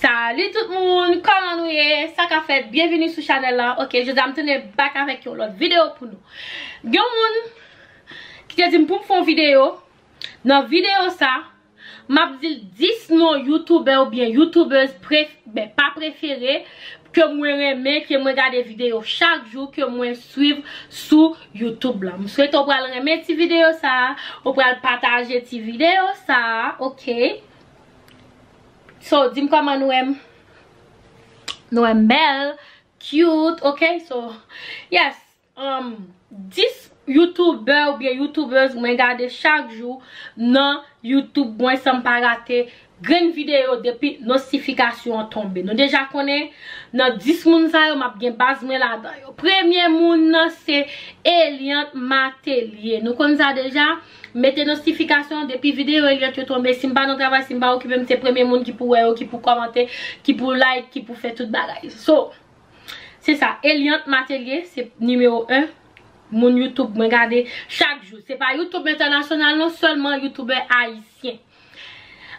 Salut tout moun, kòman nou ye? Sa ka fèt, byenvini sou chanèl la Ok, jodi a m tounen bak avèk yon lòt videyo pou nou Gen yon moun ki te di m pou m fè yon videyo Nan videyo sa, m ap di l 10 non youtubè oubyen youtubèz pref, ben pa prefere Ke mwen renmen, ke mwen gade videyo chak jou, ke mwen swiv sou YouTube la. M swete w pral renmen ti videyo sa a, ou pral pataje ti videyo sa a, ok. So, di m kòman nou wè m. Nou wè m bèl, cute, ok. So, yes, 10 youtubè oubyen youtubeuse mwen gade chak jou nan YouTube mwen san m pa rate. Grenn video depi nosifikasyon an tonbe. Nou deja konnen nan 10 moun sa yo map gen baz mwen ladan yo. Premye moun nan se Eliante Matelier. Nou konn sa deja. Mete nosifikasyon depi video Eliante yo tonbe. Sim pa nan travay, sim pa okipem se premye moun ki pou wè yo, ki pou komante, ki pou like, ki pou fè tout bagay. So, se sa. Eliante Matelier se nimewo 1 moun youtube mwen gade chak jou. Se pa youtube entènasyonal non, selman youtube ayisyen.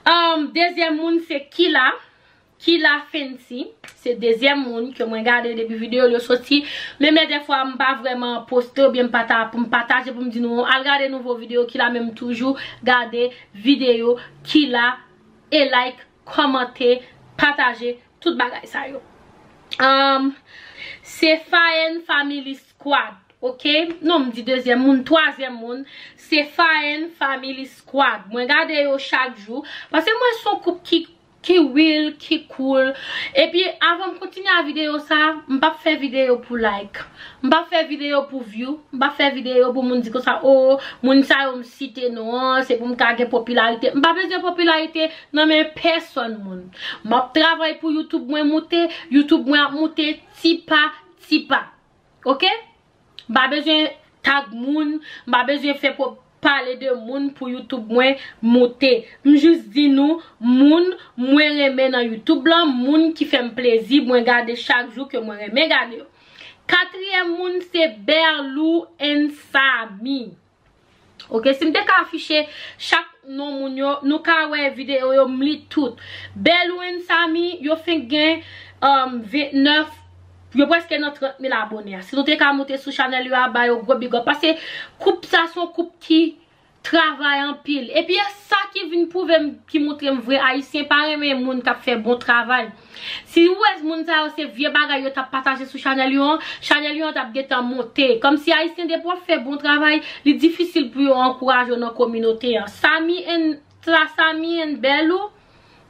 Humm dezyèm moun se kila kila fenty se dezyèm moun ke mwen gade depi video l yo soti men men dèfwa m pa vrèman poste oubyen m pa ta pou m pataje pou m di nou al gade nouvo video kila men m toujou gade video kila e like kòmante pataje tout bagay sa yo humm se faen family. Squad ok non m di dezyèm moun twazyèm moun se Faen family squad mwen gade yo chak jou paske m wè son koup ki ki real ki cool epi avan m kontinye a video sa m pap fè video pou like m pap fè video pou view m pap fè video pou moun di konsa oo moun sa yo m site non an se pou m ka gen popilarite m pa bezwen popilarite nan men pèsòn moun map travay pou youtube mwen moute youtube mwen ap moute ti pa Tipa. Ok. M pa bezwen tag moun, m pa bezwen fè pwob pale de moun pou YouTube mwen moute. M jis di nou moun mwen renmen nan YouTube lan, moun ki fè m plezi mwen gade chak jou ke mwen renmen gade yo. Katriyèm moun se Berlou and Samy. Ok si m te ka afiche chak non moun yo nou ka wè video yo m li tout. Berlouin Samy yo fenk gen 29 yo preske nan 30 mil abone a. Si nou te ka moute sou chanèl yo a ba yo gwo bigòp pase koup sa son koup ki travay anpil. Epi e sa ki vin pwouve m ki moutre m vre ayisyen pa renmen moun k ap fè bon travay. Si wèz moun sa yo se vye bagay yo tap pataje sou chanèl yo an, chanèl yo an tap gentan monte. Kòmsi Ayisyen depi wap fè bon travay, li difisil pou yo ankouraje w nan kominote an. Samy and Sa Samy and Belou,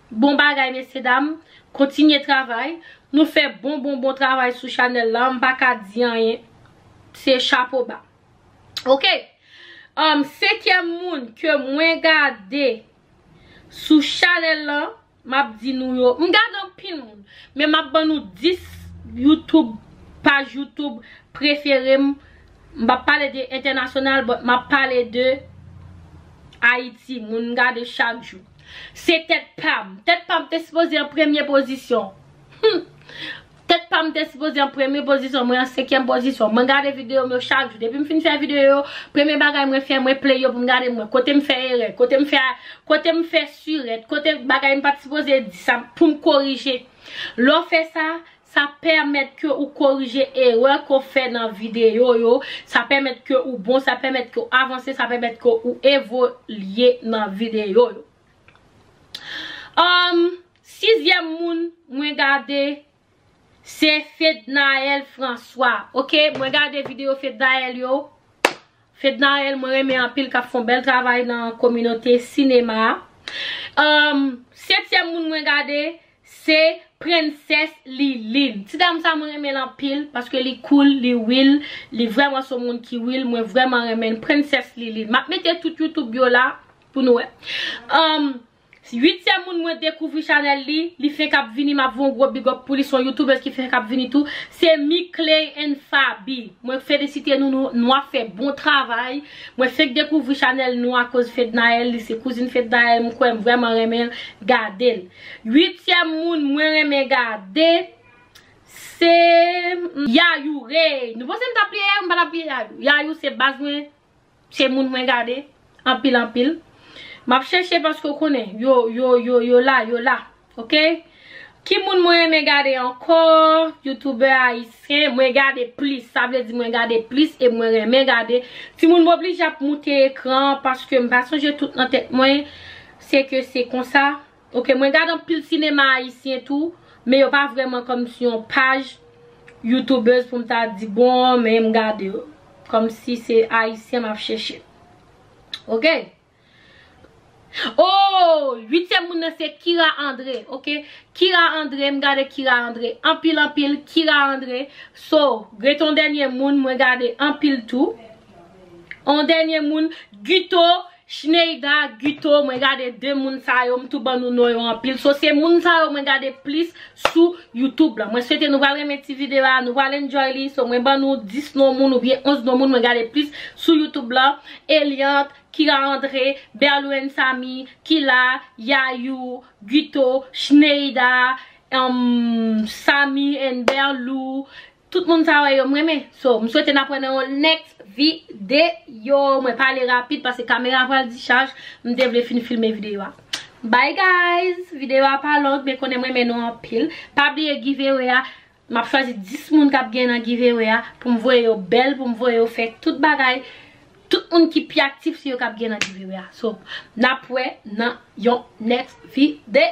bon bagay mesye dam. Kontinye travay. Nou fè bon bon bon travay sou chanèl la. M pa ka di anyen. Se chapo ba. Ok. Anm, senkyèm moun ke mwen gade sou chanèl la. Map di nou yo, m gad anpil moun, men map ban nou 10 YouTube paj YouTube prefere m, m pap pale de entènasyonal but map pale de Ayiti, moun m gade chak jou. Se tèt pam, tèt pam te sipoze an premye pozisyon. Humm. Tèt pam te sipoze an premye pozisyon mwen an senkyèm pozisyon mwen gade videom yo chak jou depim fin fè video yo premye bagay mwen fè mwen play yo poum gade mwen kotem fè erè kotem fè kotem fè surèt kote bagay mpat sipoze di sa poum korije lè w fè sa sa pèmèt ke ou korije erè ke w fè nan video yo sa pèmèt ke ou bon sa pèmèt ke w avanse sa pèmèt ke ou evolye nan video yo humm. Sizyèm moun mwen gade se Fednaelle François ok mwen gade video Fednaelle yo Fednaelle mwen renmen anpil kap fon bèl travay nan kominote sinema humm setyèm moun mwen gade se Princesse Liline ti dam sa mwen renmenl anpil paske li cool li will li vrèman son moun ki will mwen vrèman renmenl Princesse Liline map mete tout youtube yo la pou nou wè humm. Uityèm moun mwen dekouvri chanèl li, li fenk ap vini map voun gwo big up pou li son youtubeuse ki fenk ap vini tou, se Mickley and Faby, mwen felisite nou nou nou ap fè bon travay, mwen fenk dekouvri chanèl nou akoz Fednaelle li se kouzin Fednaelle m kwè m vrèman renmen gade l. Uityèm moun mwen renmen gade se Yayou Rey, nou panse m tap bliye Yayou m pa tap bliye Yayou, Yayou se baz mwen. Se moun mwen gade anpil anpil Map chèche paske ou konnen yo yo yo yo la yo la ok Ki moun mwen renmen gade ankò Youtoubè ayisyen mwen gade plis sa vle di mwen gade plis e mwen renmen gade Timoun m oblije ap moute ekran paske m pa sonje tout nan tèt mwen se ke se konsa. Ok mwen gad anpil sinema ayisyen tou men yo pa vrèman kòm si yon paj youtubeuse poum ta di bon men m gade yo kòm si se ayisyen map chèche ok ooh 8 yèm moun nan se Kira Andre ok Kira Andre m gade Kira Andre anpil anpil Kira Andre so gen ton dènye moun mwen gade anpil tou on dènye moun Guto Schneida, Guto mwen gade 2 moun sa yo m tou ban nou non yo anpil so se moun sa yo mwen gade plis sou youtube lan mwen swete nou pral renmen ti video a nou pral enjoy li so mwen ban nou 10 non moun oubyen 11 non moun mwen gade plis sou youtube lan Eliante, Kira André, Berlouen Samy, Kila, Yayou, Guto, Schneida, humm Samy and Berlou. Tout moun sa wè yo m renmen. So m swete n ap wè nan yon next video. Mwen pale rapid paske kamera pral dichaj. M te vle fin filme video a. Bye guys! Video a pa long men konnen m renmen nou anpil. Pa bliye giveaway a. M ap chwazi 10 moun k ap gen nan giveaway a. Pou m voye yo bèl, pou m voye yo fè tout bagay. Tout moun ki pi aktif se yo k ap gen nan giveaway a. So n ap wè nan yon next video.